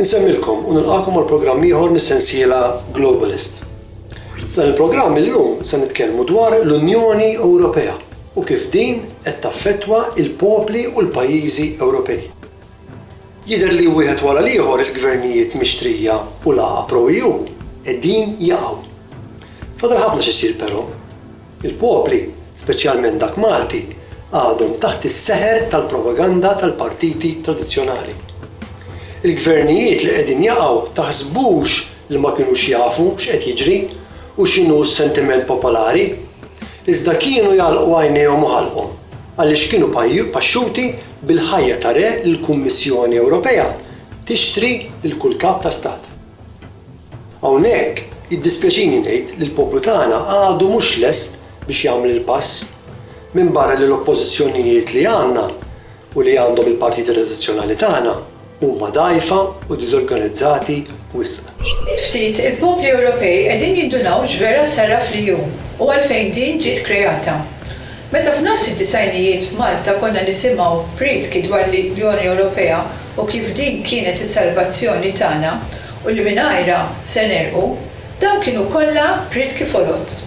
Insemmilkom u nilqakom għal programm ieħor mis-sensiela Globalist. Dan il-programm illum se nitkellmu dwar l-Unjoni Ewropea u kif din qed taffettwa il-popli u l-pajjiżi Ewropej. Jidher li wieħed wara l-ieħor il-gvernijiet mixtrija u l-għaqal pro-EU qegħdin jaqgħu. Fadal ħafna x'isir però. Il-popli, speċjalment dak Malti, għadhom taħt is-seħer tal-propaganda tal-partiti tradizzjonali. Il-gvernijiet li qegħdin jaqgħu taħsbux li ma kinux jafu x'qed jiġri u x'inhu s-sentiment popolari, iżda kienu jagħlqu għajnejhom u ħalqhom għaliex kienu paxxuti Bil-ħajja ta' re l-Kummissjoni Ewropea tixtri lil kull kap ta' stat. Hawnhekk jiddispjaċini ngħid li l-poplu tagħna għadu mhux lest biex jagħmel il-pass, minbarra li l-oppożizzjonijiet li għandna u li għandhom il-partiti tradizzjonali tagħna Huma dgħajfa u diżorganizzati wisq. Ftit ftit il-popli Ewropej qegħdin jindunaw x'vera saraf li hu u għalfejn din ġiet kreata. Meta f'nofs id-disgħinijiet f'Malta konna nisimgħu priedki dwar l-Unjoni Ewropea u kif din kienet is-salvazzjoni tagħna u li mingħajrha se negħrqu, Dawn kienu kollha riedki foloz.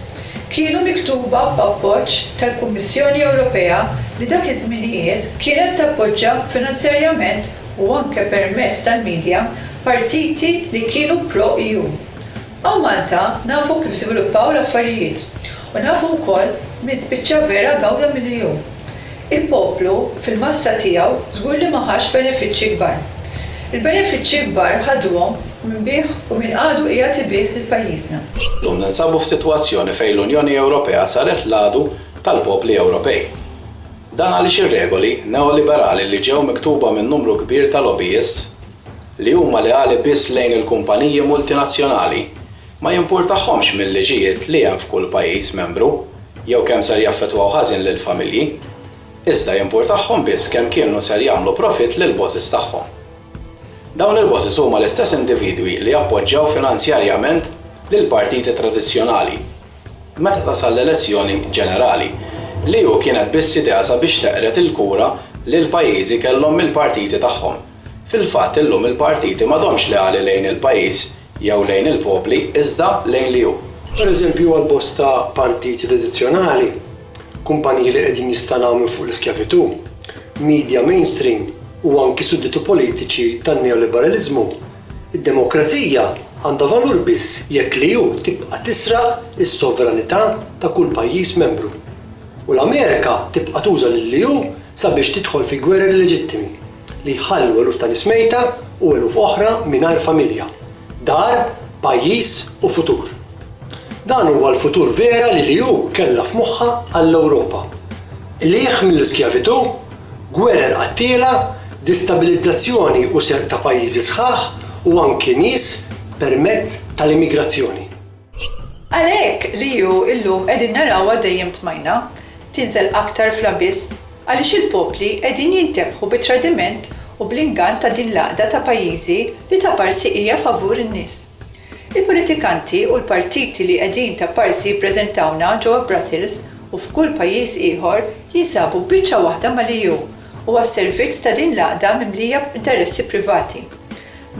Kienu miktuba b'appoġġ tal-Kummissjoni Ewropea li dak iż-żminijiet kienet tappoġġa finanzjarjament u anke permezz tal-media partiti li kienu pro-EU. Hawn Malta nafu kif żviluppaw l-affarijiet u nafu wkoll min spiċċa vera gawda mill-EU. Il-poplu, fil-massa tiegħu, żgur li ma ħax benefiċċji kbar. Il-benefiċċji kbar ħaduhom min biegħ u min għadu qiegħed ibiegħ lil pajjiżna. Llum ninsabu f'sitwazzjoni fejn l-Unjoni Ewropea saret l-għadu tal-popli Ewropej. Dan għaliex ir-regoli neoliberali li ġew miktuba minn numru kbir ta' lobbyists, li huma leali biss lejn il-kumpaniji multinazzjonali, Ma jimpurtahomx mil-liġijiet li hemm f'kull pajjiż membru jew kemm ser jaffettwaw ħażin lill-familji, iżda jimpurtahom biss kemm kienu ser jagħmlu profitt lill-bosses tagħhom. Dawn il-bosses huma l-istess individwi li appoġġjaw finanzjarjament lill-partiti tradizzjonali meta tasal l-elezzjoni ġenerali, li hu kienet biss idea sabiex teqred il-kura li l-pajjiżi kellhom mill-partiti tagħhom. Fil-fatt illum il-partiti m'għadhomx leali lejn il-pajjiż jew lejn il-popli, iżda lejn li hu. Pereżempju, għal bosta partiti tradizzjonali, kumpaniji li qegħdin jistanaw minn fuq l-iskjavitù, media mainstream u anki sudditu politiċi tan-neoliberaliżmu, id-demokrazija għandha valur biss jekk li hu tibqa' tisraq is-sovranità ta' kull pajjiż membru u l-Amerika tibqa' tuża lil li hu sabiex tidħol fi gwerer illeġittimi. li jħallu eluf ta' nies mejta u eluf oħra mingħajr familja, dar, pajjiż u futur. Dan huwa l-futur vera li l-EU kellha f'moħħha għall-Ewropa. Qligħ mill-iskjavitù, gwerer qattiela, distabilizzazzjoni u serq ta' pajjiżi sħaħ u anki nies permezz tal-immigrazzjoni. Għalhekk li hu llum qegħdin narawha dejjem tmajna tinżel aktar fl-abiss għaliex il-popli qegħdin jintebħu bit-tradiment u bl-ingann ta' din l-għaqda ta' pajjiżi li ta' parsi hija favur in-nies. Il-politikanti u l-partiti li qegħdin ta' parsi jippreżentawna ġewwa Brussels u f'kull pajjiż ieħor jinsabu biċċa waħda mal-EU u għas-servizz ta' din l-għaqda mimlija b'interessi privati.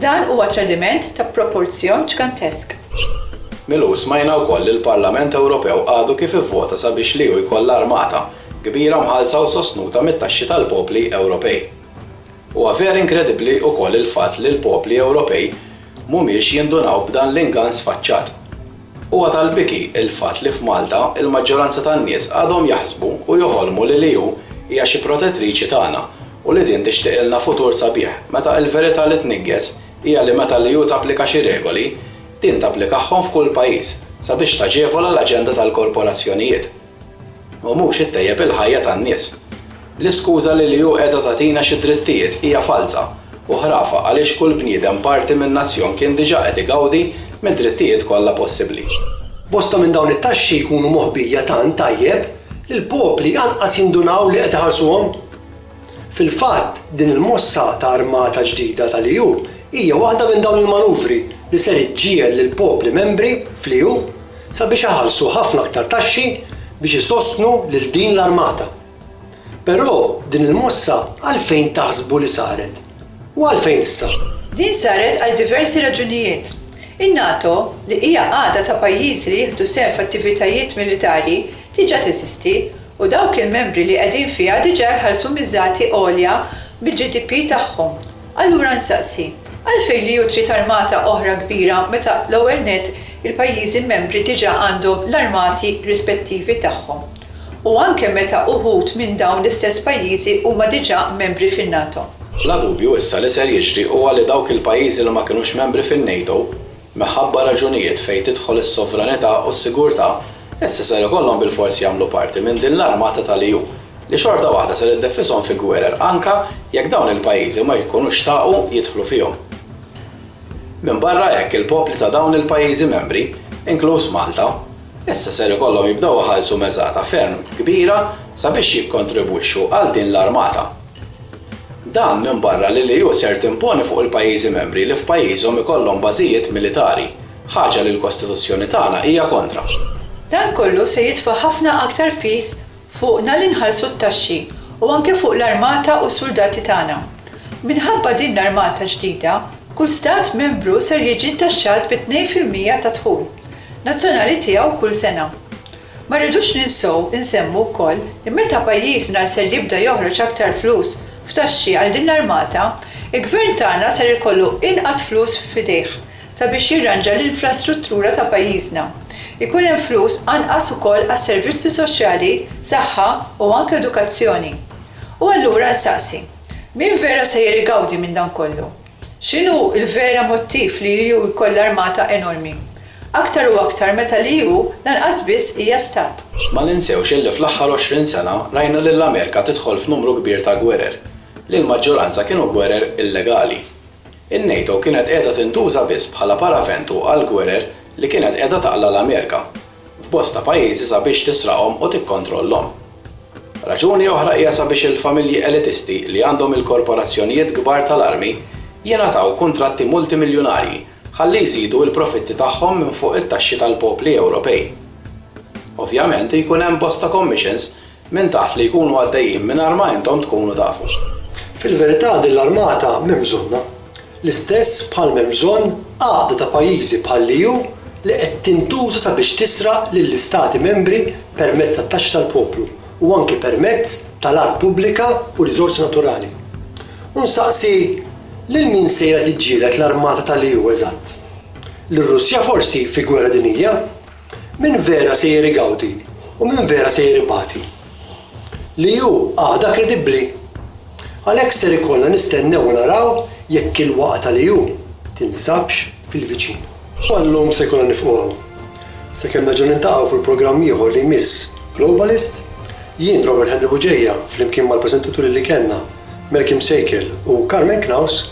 Dan huwa tradiment ta' proporzjon ġgantesk. Mill-UE smajna wkoll li l-Parlament Ewropew għadu kif ivvota sabiex l-EU jkollha armata kbira mħallsa u sostnuta mit-taxxi tal-popli Ewropej. Huwa vera inkredibbli wkoll il-fatt li l-popli Ewropej mhumiex jindunaw b'dan l-ingann sfaċċat. Huwa tal-biki l-fatt li f'Malta l-maġġoranza tan-nies għadhom jaħsbu u joħolmu li l-EU hija xi protettriċi tagħna u li din tixtiqilna futur sabiħ meta l-verità li tniggħes hija li meta l-EU tapplika xi regoli, din tapplikahom f'kull pajjiż sabiex taġevola l-aġenda tal-korporazzjonijiet. u mhux ittejjeb il-ħajja tan-nies. L-iskuża li l-EU qiegħda tagħtina xi drittijiet hija falza u ħrafa għaliex kull bniedem parti minn nazzjon kien diġà qed igawdi mid-drittijiet kollha possibbli. Bosta minn dawn it-taxxi jkunu moħbija tant tajjeb li l-popli anqas jindunaw li qed iħallsuhom. Fil-fatt, din il-mossa ta' armata ġdida tal-EU hija waħda minn dawn il-manuvri li ser iġġiegħel lill-popli membri fl-EU sabiex iħallsu ħafna aktar taxxi biex isostnu lil din l-armata. Però din il-mossa għalfejn taħsbu li saret? U għalfejn issa? Din saret għal diversi raġunijiet. In-NATO, li hija għada ta' pajjiżi li jieħdu sehem f'attivitajiet militari, diġà teżisti u dawk il-membri li qegħdin fiha diġà jħallsu miżati għolja mill-GDP tagħhom. Allura nsaqsi, għalfejn l-EU trid armata oħra kbira meta l-ewwel nett il-pajjiżi membri diġà għandhom l-armati rispettivi tagħhom u anke meta uħud minn dawn l-istess pajjiżi huma diġà membri fin-NATO? Bla dubju issa li ser jiġri huwa li dawk il-pajjiżi li ma kinux membri fin-NATO Minħabba raġunijiet fejn tidħol is-sovranità u s-sigurtà, issa ser ikollhom bilfors jagħmlu parti minn din l-armata tal-EU, li xorta waħda ser iddeffishom fi gwerer anka jekk dawn il-pajjiżi ma jkunux xtaqu jidħlu fihom. Minbarra hekk il-popli ta' dawn il-pajjiżi membri, inkluż Malta, issa ser ikollhom jibdew iħallsu meżata ferm kbira sabiex jikkontribwixxu għal din l-armata. Dan minbarra li l-EU ser timponi fuq il-pajjiżi membri li f'pajjiżhom ikollhom bażijiet militari, ħaġa li l-Kostituzzjoni tagħna hija kontra. Dan kollu se jitfa' ħafna aktar piż fuqna li nħallsu t-taxxi u anke fuq l-armata u s-suldati tagħna. Minħabba din l-armata ġdida, kull Stat Membru ser jiġi ntaxxat bi tnejn fil-mija tad-dħul Nazzjonali tiegħu kull sena. Ma rridux ninsew insemmu wkoll li meta pajjiżna ser jibda joħroġ aktar flus f'taxxi għal din l-armata, il-Gvern tagħna ser ikollu inqas flus f'idejh sabiex jirranġa l-infrastruttura ta' pajjiżna. Ikun hemm flus anqas ukoll għas-servizzi soċjali, saħħa u anke edukazzjoni. U allura nsaqsi, min vera sejjer igawdi minn dan kollu? X'inhu l-vera mottiv li l-EU jkollha armata enormi? Aktar u aktar meta l-EU lanqas biss hija stat. Ma ninsewx illi fl-aħħar għoxrin sena rajna lill-Amerika tidħol f'numru kbir ta' gwerer, li l-maġġoranza kienu gwerer illegali. In-NATO kienet qiegħda tintuża biss bħala paraventu għall-gwerer li kienet qiegħda taqla' l-Amerika, f'bosta pajjiżi sabiex tisraqhom u tikkontrollhom. Raġuni oħra hija sabiex il-familji elitisti li għandhom il-korporazzjonijiet kbar tal-armi jingħataw kuntratti multimiljunarji ħalli jżidu l-profitti tagħhom minn fuq it-taxxi tal-popli Ewropej. Ovvjament jkun hemm bosta commissions Minn taħt li jkunu għaddejjin mingħajr ma intom tkunu tafu. Fil-verità din l-armata m'hemm bżonnha. L-istess bħal m'hemm bżonn għaqda ta' pajjiżi bħall-EU li qed tintuża sabiex tisraq lill-Istati Membri permezz tat-taxxi tal-poplu u anki permezz tal-art pubblika u riżorsi naturali. U nsaqsi, lil min sejra tiġġieled l-armata tal-EU eżatt? Lir-Russja forsi fi gwerra dinjija? Min vera sejjer igawdi u min vera sejjer ibati? Li hu għada kredibbli? Għalhekk ser ikollna nistennew u naraw jekk il-waqgħa ta' Li hu tinsabx fil-viċin. U għal-lum se jkollna nifqu hawn. Sakemm nerġgħu niltaqgħu fil-programm ieħor li jmiss Globalist, jien Robert Henry Bugeja flimkien mal-preżentaturi li kellna, Malcolm Sejkel u Carmen Knaus,